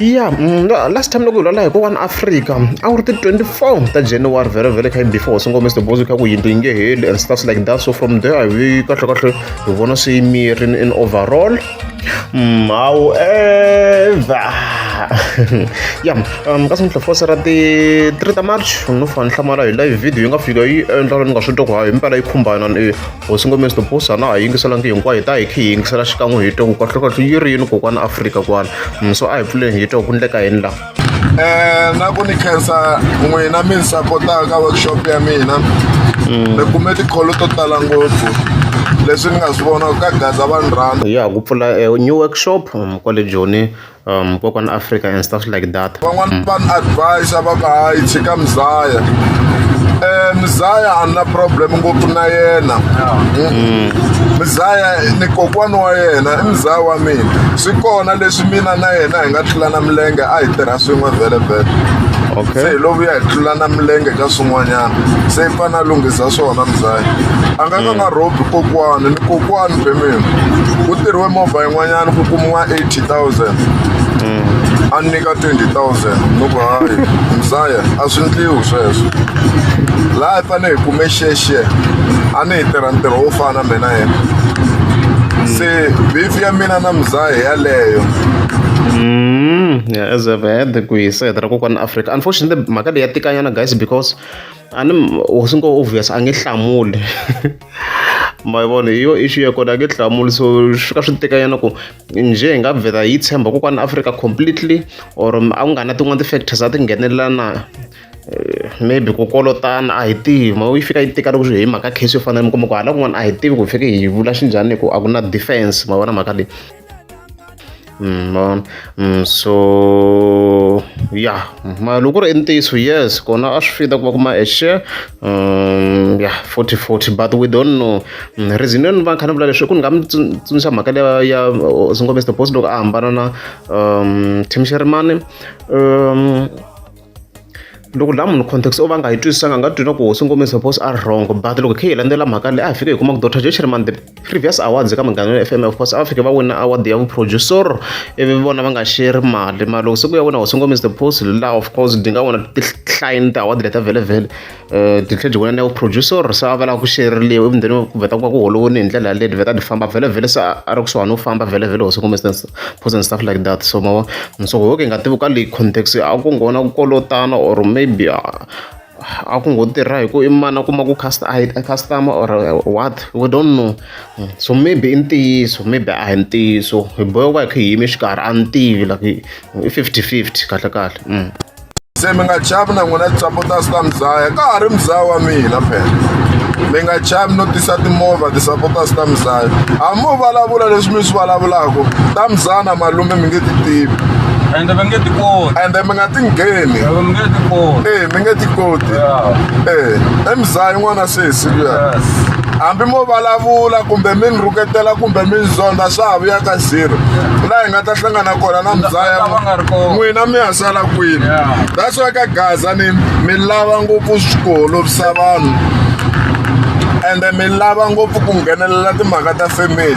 ya mm, last time loko hi lwala hi ko one africa a wu ri ti 24 ta january vhele vhele kha before hosi ngome sir bozo kha ku yindlu yi nge heli and stuffs like that so from there hi kahle kahle hi vona se yi mirini in overall mm, however ya um kasi mihla fose ra ti 3 ta march no fane hlamala hi live video yi nga fika yi endla ni nga swi twa ku hayi impela yi khumbana hosi ngomesi topusa na ha yingiselangi hinkwayo hi ta hi khe hi yingisela xikan'we hi toko kahlokahlo yi ri yini kokwana afrika kwana mso a hi pfuleni hi toko ku ndleka yini laha um na ku ni khensa n'wina mi ni sapotaka ka workshop ya mina mm. ni kume tikholo to tala ngopfu leswi ni nga swi vona ka gaza vanhu rhanda ya ku pfula eh, new workshop mm, kwale joni um kokwana africa and stuff like that van'wana van advisa va ka hayi tshika mzaya um mzaya a ni na problem ngopfu na yena mm. mzaya ni kokwana wa yena i mzaya wa mina swi kona leswi mina na yena hi nga tlulana milenge a hi tirha swin'we vhele vhele okay. se hi lovu ya hi tlulana milenge ka swin'wanyana se i fane a lunghisa swona mzaya a nga ka nga mm. rhobi kokwana ni kokwana bemina ku tirhiwe movha yin'wanyana ku kumiwa eighty 2000 a ni nyika 20000 ni ku hayi mzaya a swi ndliwi sweswo laha hi fanele hi kume xexi a ni hi tirha ntirho wo fana mina yena se beef ya mina na mzaya yaleyo Mm, yeah, as I've had ku yi said ra kokwana Africa. Unfortunately, mhaka leyi ya tikanyana guys because ani hosi ngo obvious a nge hlamuli. Ma yi vona hi yo issue ya kona a nge hlamuli so swi fika swi tikanyana ku njhe hi nga vheta hi tshemba kokwani africa completely or a ku nga na tin'wana ti-factors a ti nghenelela na eh, maybe ku kolotana a hi tivi ma yi fika yi tika loko hi mhaka case yo fanele mi kuma ku hala kun'wana a hi tivi ku fike hi vula xinjhani hi ku a ku na defense ma vona mhaka leyi Mm, vona mm, so ya ma loko ku ri i ntiyiso yes kona a swi fita ku va kuma a share Um, ya yeah, 40 40 but we don't know mm, reason yo ni va kha ni vula leswi ku ni nga mi tsundzuxa mhaka leya ya singombe the boss loko a hambana na um tim sherimani um loko la munhu context o va nga yi twisisanga nga twina ku singombe the boss a wrong but loko khe hi landzela mhaka leyi a hi fike hi kuma ku dr j sherimani the previous awards eka munghana wa fm of course a va fike va wina award ya vuproducer ivi vona va nga sheri mali mara loko siku ya wena hosi ngomisa the post laha of course di nga vona tihlaini ti-award leta vhelevhele um ti tlhe byi wena na vuproducer se a va lava ku xeriliwa ivi ndeni ku vheta ku va ku holovoni hi ndlela yaleyo vheta ti famba vhelevhele se a ri kusuhani u famba vhelevhele hosi ngomisa post and stuff like that so mavo so hoke hi nga tivi ka leyi context a ku nghona ku kolotana or maybe a ku ngo tirha hi ku i mani a kuma ku customer or what we don't know so maybe i ntiyiso maybe a hi ntiyiso hi bohe ku va hi kha hi yime xikarhi a ni tivi like i fifty fifty kahle kahle mm. se mi nga chavi na n'wina tisapota swi ta mizaya ka ha ri mizaya wa mina phela mi nga chavi no tisa timovha tisapota swi ta mizaya a mo vulavula leswi mi swi vulavulaka ta mizana malume mi nge ti tivi ende va nge ti koti ende mi nga ti ngheni Loko mi nge ti koti. ee mi nge ti koti Yeah. ee emzayi n'wana sesi luya Yes. hambi mo vulavula kumbe mi ni rhuketela kumbe mi ni zonda swa ha vuya ka zero laha hi nga ta hlangana kona na mzaya Lava va nga ri kona. n'wina mi ya sala kwini Yeah. that's why ka gaza ni mi lava ngopfu ku holovisa vanhu ende mi lava ngopfu ku nghenelela timhaka ta family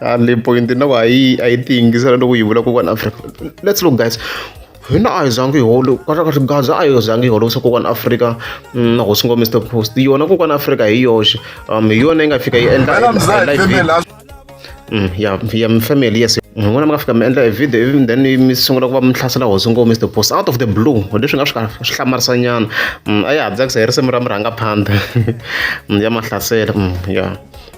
a le point na ku a yi a yi ti yingisela loko yi vula kokwana afrika let's look guys hina a hi zangi hi holo kahlakahle gaza a hi zangi hi holovisa kokwana afrika mm, na hosi ngo mr post yona kokwana afrika hi yoxe um hi yona yi nga fika yi endla mm, ya ya mfamily yes n'wina mi nga fika mi endla e video ivi then mi sungula ku va mi hlasela hosi ngo mr post out of the blue leswi nga swi swi hlamarisa nyana mm, a ya ha tsakisa hi risimu ra murhangaphandha ya mahlasela ya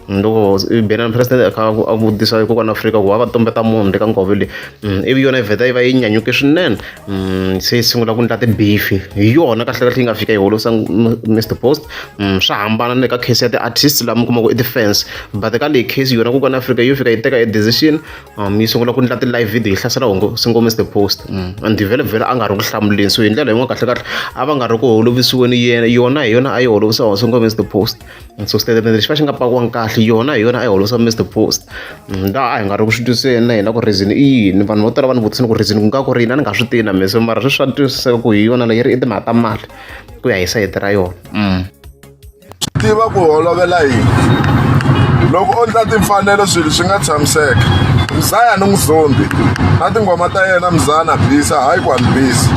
loko benana president a kha a vutisa kokwana afrika ku va va tumbeta munhu le ka ngove leyi mm, ivi yona yi vheta yi va yi nyanyuke swinene mm, se yi sungula ku ndla tibifi hi yona kahlekahle yi nga fika yi holosa mr post mm, swa hambana ni le ka case ya ti-artist lama kuma ku i defense but ka leyi case yona kokwana afrika yo fika yi teka e decision um, yi sungula ku ndla ti-live video yi hlasela hongo singo mr post and vhele vhele a nga ri ku hlamuleni so hi ndlela yin'wana kahlekahle a va nga ri ku holovisiweni yena yona hi yona a yi holovisa hongo singo mr post Mm, so xitatimende lexi va xi nga pakiwanga kahle yona hi yona a yi holosa mr post mm, laha a hi nga ri ku swi twiseni na hina ku reason i yini vanhu vo tala va ni vutisini ku reason ku nga ku ri yini a ni nga swi tivi na mese mara sweswi swa twisiseka ku hi yona leyi ri i timhaka ta mali ku ya hi sayiti ra yona mm. tiva ku holovela yini loko u endla timfanelo swilo swi nga tshamiseka mzaya ni n'wizombi na tinghoma ta yena mzaya na bisa hayi ku a ni bisa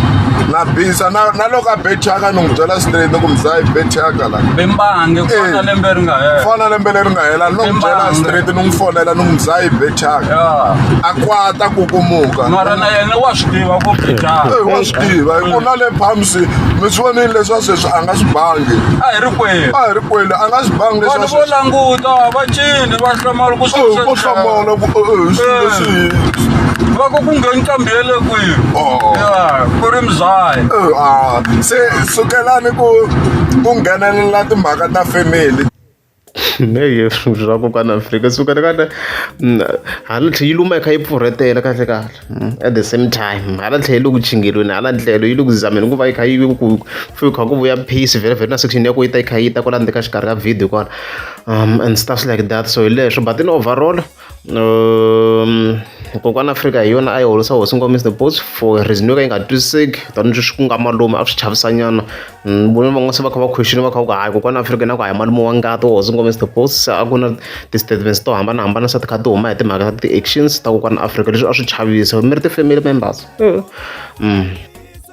na bisa na loko a bethaka ni n'wi byela straight ni ku mzaya i bethaka bembange ku fana Eh. lembe ri nga hela fona lembe leri nga hela ni n'wi byela Timbangi. straight ni n'wi fonela ni n'wi mzayi bechaka ya a kwata kukumuka mara na yena wa swi tiva ku bejaka Eh, wa swi tiva hi ku na le palms mi swi vonile leswa sweswi a nga swi bangi a hi ri kwenu a hi ri kwele a nga swi bangi vanhu leswa vo sweswi languta va cini va hlamala ku swi- Eh, ko hlamala ku eh, eh, swi Eh. leswi va ku ku ngheni nqambi ya le kwihi Oh. ya ku ri mzayi Eh, ah, se sukelani ku ku nghenelela timhaka ta family heyi swa kokwana afrika suka ni kahle mm, hala tlhe yi luma yi kha yi pfurhetela kahle kahle mm, at the same time hala tlhe yi le ku chingelweni hala ndlelo yi le ku zameni ku va yi kha yi ku fe kha ku vuya peace vhele vhele na section ya ku yi ta yi kha yi ta kwala ndzeni ka xikarhi ka video kwala um and stuff like that so hi leswo but in overall um kokwana afrika hi yona a yi holisa hosi nkomiso the boats for reason yo ka yi nga twisiseki tani leswi ku nga malume a swi chavisanyana mm, vona van'wana se va kha va question va kha va ku hayi kokwana afrika na ku hayi malume wa ngati wa hosi nkomiso the boats a ku na ti-statements to hambanahambana se ti kha ti huma hi timhaka ta ti-actions ta kokwana afrika leswi a swi chavisa mi ri ti-family members mm.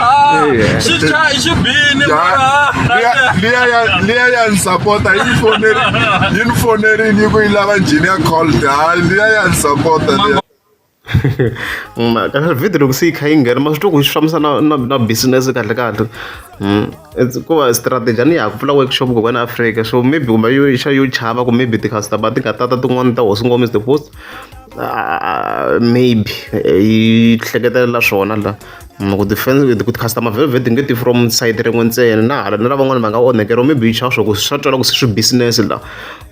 Ah, Yeah. xi cha- xi bini mara. liya ya ni sapota yi ni foneri- yi ni fonerile yi ku yi lava njhini ya cold hayi liya ya ni sapota liya Mm, kahle video loko se yi kha yi nghena ma swi twa ku yi fambisa na na na business kahle kahle Mm, it's- ku va strategy a ni ya ku pfula workshop ku kwena africa so maybe kumbe yo xa yo chava ku maybe ti-customer ti nga tata tin'wana ta hosi ngomisa the post maybe yi hleketelela swona la ku defense ku customer velvet nge ti from side rin'we ntsena na hala na lavan'wana va nga onhekeriwa maybe yi chava swa ku swa twala ku se swi business la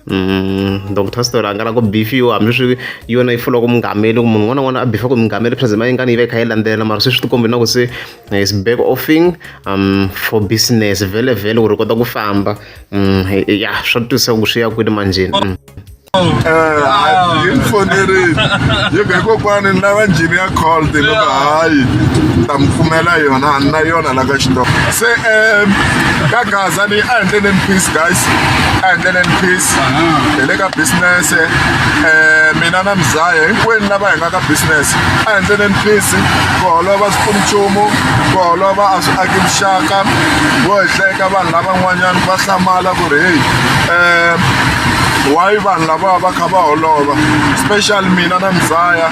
Mm, donc ta story angala ku bifiwa hambi swi yona yi fula ku mungameli ku munhu un'wana n'wana a bifa ku mungameli present ma yingani yi va yi kha yi landzelela mara se swi tikombe na ku se eh, is back offing um for business vele vele ku ri kota ku famba um ya swa twisisa ku swi ya kwini manjeni mm. yi ni fonerile yi be kokwani ni lava njhini ya call ni loko hayi ta mi pfumela yona a ni na yona la ka xitoko se um ka gaza leyi a endleleni peace guys a endleleni peace hi le ka business um mina na mzaya hinkwenu lava hi nga ka business a endleleni peace ku holova swi pfuni nchumu ku holova a swi aki vuxaka vo hi hlayeka vanhu lavan'wanyana va hlamala ku ri heyi um why vanhu lava va kha va holova special mina na mzaya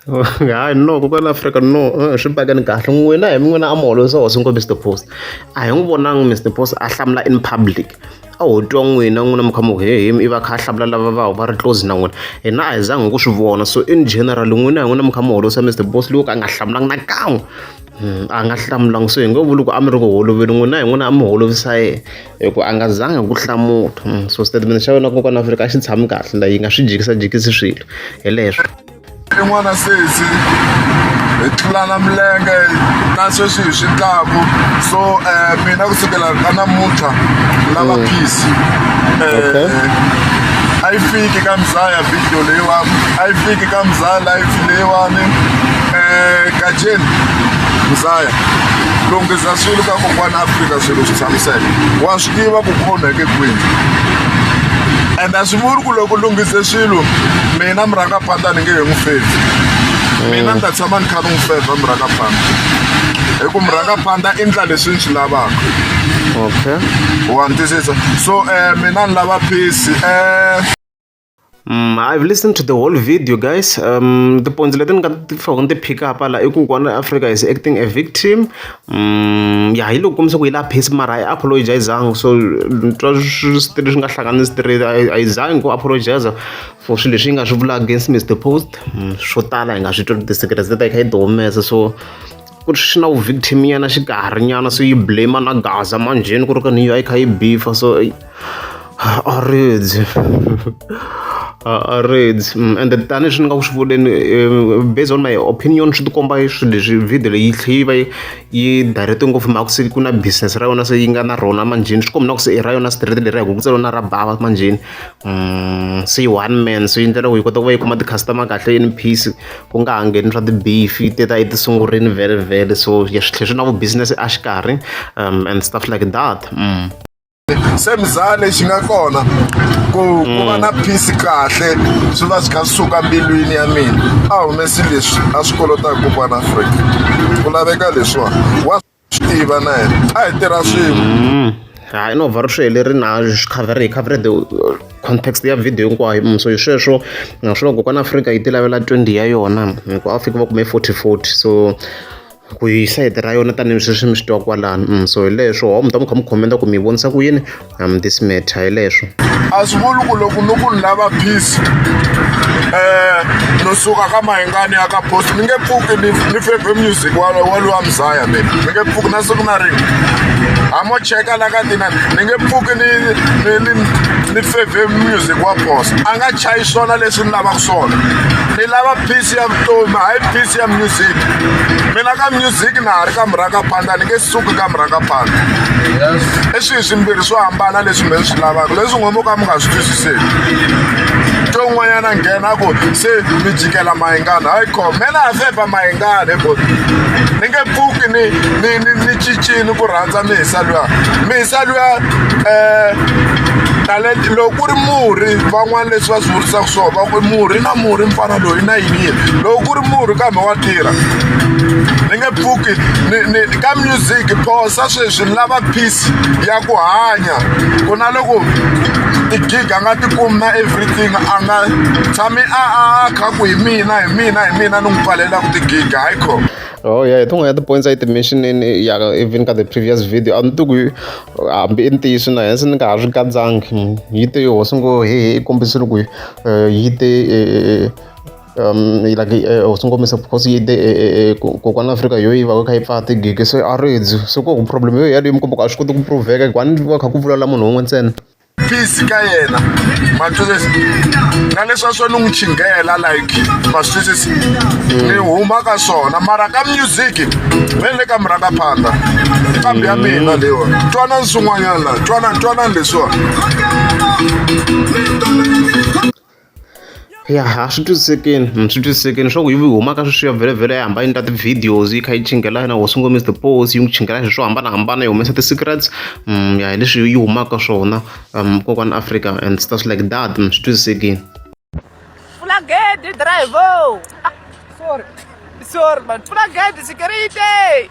hayi no kokwani afrika no eh, swi pakani kahle n'wina hi n'wina a mi holovisa hosi ngo mr post a hi n'wi vonangi mr post a hlamula in public a ho twa n'wina n'wina mi kha mi hehemi i va kha a hlamula lava va va ri close na n'wina hina a hi zangi hi ku swi vona so in general n'wina hi n'wina mi kha mi holovisa mr post loko a nga hlamulanga nakan'we a nga hlamulanga so hi ngo vuli ku a mi ri ku holoveli n'wina hi n'wina a mi holovisa yena hi ku a nga zanga ku hlamula hmm, so statement xa wena kokwana afrika a xi tshami kahle la yi nga swi jikisajikisi swilo hi leswo rin'wana sesi hi tlulana milenge na sweswi hi swi tlaku so um mina ku sukela ka namuntlha lava hmm. peace um a yi fiki ka mzaya video leyiwani a yi fiki ka mzaya life leyiwani um kajeni muzaya lunghisa swilo ka kokwana afrika swilo swi tshamiseke wa swi tiva ku khoneke kwini and a swi vuli ku loko lunghise swilo mina murangapanda ni nge he n'wi fezi mina ni ta tshama ni kha ni n'wi feza murangapanda hi ku murangapanda i ndla leswi ni swi lavaka okay wa ni twisisa so um mina ni lava peace um Mm, I've listened to the whole video guys um, tipoints leti ni nga ti faka ni ti pick up la i ku kwana africa is acting a victim um, ya hi loko kombisa ku yi la phesi mara a yi apologizanga so ni twa swi swi ri swi nga hlangani swi tirhi a yi- a yi zangi ku apologiza for swilo leswi yi nga swi vula against mr post Mm, swo tala hi nga swi twa ti-secrets leti a yi kha yi ti humesa so ku ri xi na vu victim nyana xikarhi nyana se yi blame na gaza manjheni ku ri ka ni yi kha yi bifa so a ridzi a ridzi mm, and tani swi ni nga ku swi vuleni eh, based on my opinion swi tikomba swi leswi video leyi tlhe yi va yi direct ngopfu mhaka se ku na business ra yona se yi nga na rona manjheni swi kombi na ku se i ra yona straight leri ya ku ku tselona ra bava manjheni mm, se yi one man so yi ndlela ku yi kota ku va yi kuma ti-customer kahle in peace ku nga ha ngheni swa tibifi ti ta etisunguleni vhele vhele so swi tlhe swi na vu-business exikarhi um and stuff like that mm. se mzaa lexi nga kona ku ku va na peace kahle swi va swi kha swi suka mbilwini ya mina a humesi leswi a swi kolotaka kokwana afrika ku laveka leswiwani swi tiva na yena a hi tirha swin'we mm. hayi no vhari swi heleri na swi cover hi cover the uh, context ya video hinkwayo mm, so hi sweswo naswona loko kwana afrika yi ti lavela 20 ya yona hikuva afrika va kume 40 40 so ku hi sayiti ra yona tanihi sweswi mi swi twa kwalano mm, so hi leswo ho mi ta mi kha mi khomenda ku mi vonisa ku yini I'm this matter hi leswo a swi vuli ku loko ni ku ni lava peace um no suka ka mahingani ya ka bosi ni nge pfuki ni feve music walowa mzaya mina ni nge pfuki na siku na rini hamo cheka la ka tina ni nge pfuki ni ni feve music wa bosa a nga chayi swona leswi ni lavaka swona ni lava peace ya vutomi hayi peace ya music mina ka music na ha ri ka murhaka phanda ni nge suki ka murhaka phanda i swihi swimbirhi swo hambana leswi mi swi lavaka leswi n'we mo ka mi nga swi twisiseki to n'wanyana nghena ku se mi jikela mayingana hayi ko mena ha feba mayingana hi ni nge pfuki ni ni ni ni cincini ku rhandza mihisa luya mihisa luya um talenta loko ku ri murhi van'wana leswi va swi vurisaka swona va ku murhi na murhi mfana loyi na yini yini loko ku ri murhi kambe wa tirha ni nge pfuki ka music phosa sweswi lava peace ya ku hanya ku na loko gig a nga tikumi na everything a nga tshami a a kha ku hi mina hi mina hi mina ni n'wi pfalela ku tigig hayi kho oh yeah tin'wana ya ti-points a yi ti-mentionini ya even ka the previous video a ni ti ku hambi i ntiyiso na hense ni nga ha swi katsangi yi te hosi ngo hehe i kombisile ku eh, yi te eh, eh, um like uh, swi ngo misa because yi te kokwana afrika yo yi va kha yi pfaa tigigi se a ri dzi se ko problem yo yaleyo mi komba ku a swi koti ku proveka hikuva ni va kha ku vulavula munhu wun'we ntsena peace ka yena matwisisi na leswi a swo ni n'wi chinghela like matwisisi ni huma ka swona mara ka music ve le ka murhanga phanda kambi ya mina leyiwa twanani swin'wanyana twanani twanani leswiwa ya a swi twisisekeni hmm, swi twisisekeni swa ku yi humaka sweswiya vhelavhela ya hamba yi endla ti-videos yi kha yi chingela yena wo sungula mr pos yi n'wi chingela hi swo hambanahambana yi humesa ti-secrets hmm, ya hi leswi yi humaka swona um kokwani africa and stuff like that hmm, swi twisisekeni fulagedi driver ah, sorry sorry man fulagedi security